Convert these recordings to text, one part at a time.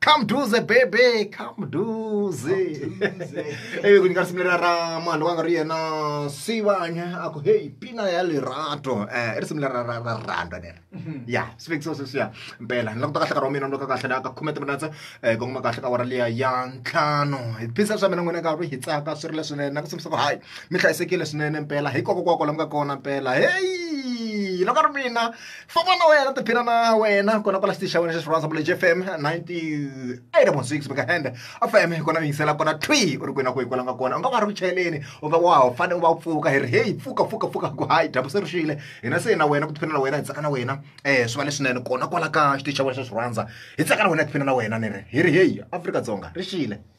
kamduze bebe kamduze eve ku nyika simulera ra mwandu wanga ri yena sivanya a ku heyi pina ya lerato eh, i risimu lera ra ra rhandwa leri ya sivekiso sweswiya mpela ni languta kahle nkarhi wa mina ni loka kahle la ka khume timinetse um kongoma kahle ka wara liya ya ntlhanu hi phisa swa mina n'wina ka ri hi tsaka swi ri leswinene na ku simbisa ku hayi mi hlayisekile swinene mpela hi koko kwako la mi nga kona mpela heyi loko ri mina famba na wena tiphina na wena kona kwala xitichi xa wena xa xirhandza vula jfm 98.6 beka hende fm kona yingisela kona twi u ri kwini na kwihi kwala nga kona u nga va ri ku chayeleni u va wa fane u va u pfuka hi ri heyi pfuka pfuka pfuka ku hayi dyambu se ri xile hina se na wena ku tiphina na wena hi tsaka na wena um swi va leswinene kona kwala ka xitichi xa wena xa xirhandza hi tsaka na wena hi tiphina na wena ni ri hi ri heyi afrika dzonga ri xile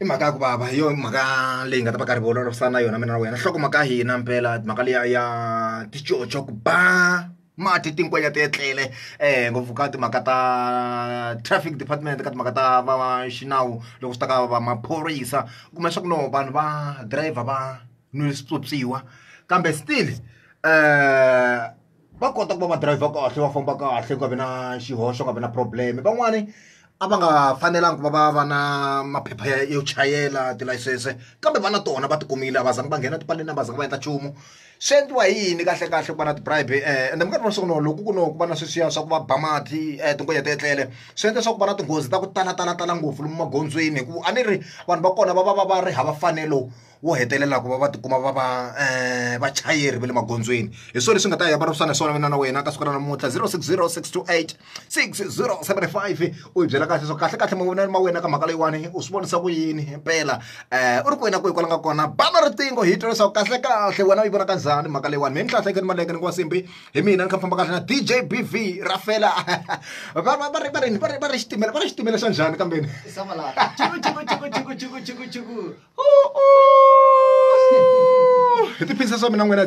i mhaka ya ku vava hi yona mhaka leyi nga ta va karhi vulavurisana na yona mina na wena nhloko mhaka hina mpela mhaka liya ya ticoco ku ba mati tinkwenya ti etlele um ngopfu ka timhaka ta traffic department ka timhaka ta va xinawu loko swi ta ka va maphorisa u kuma leswaku no vanhu va driver va nwile swipyopyiwa kambe still um va kota ku va va driver kahle va famba kahle ku nga vi na xihoxo nga vi na problem van'wani a va nga fanelanga ku va va va na maphepha ya yo chayela tilayisense kambe va na tona va tikumile a va zanga va nghena tipaleni a va zanga va endla nchumu swi endliwa hi yini kahle kahle ku va na ti-bribe um ende minkarhi wa siku no loko ku no ku va na sweswiya swa ku va ba mati um tingoya ti etlele swi endla swa ku va na tinghozi ta ku tala tala tala ngopfu lomu magondzweni hikuva a ni ri vanhu va kona va va va va ri hava fanelo wo hetelela ku va va tikuma va va um vachayeri va le magondzweni hi swona leswi nga ta ya va ripsana hi swona mina na wena ka siku ra namuntlha zero six zero six two eight six zero seven five u hi byela kahle so kahle kahle mavonelo ma wena ka mhaka leyiwani u swi vonisa ku yini mpela um u ri ku wena kwihi kwala nga kona bana riqingho hi twa leswaku kahle kahle wena u yi vona ka njhani mhaka leyiwani mi ni hlahla ekeni maleke ni ku wa simbi hi mina ni kha famba kahle na d j b v ra fela va va va ri va ri va ri va ri xitimela va ri xitimela xa njhani kambeni hi tiphina swa mina n'wina .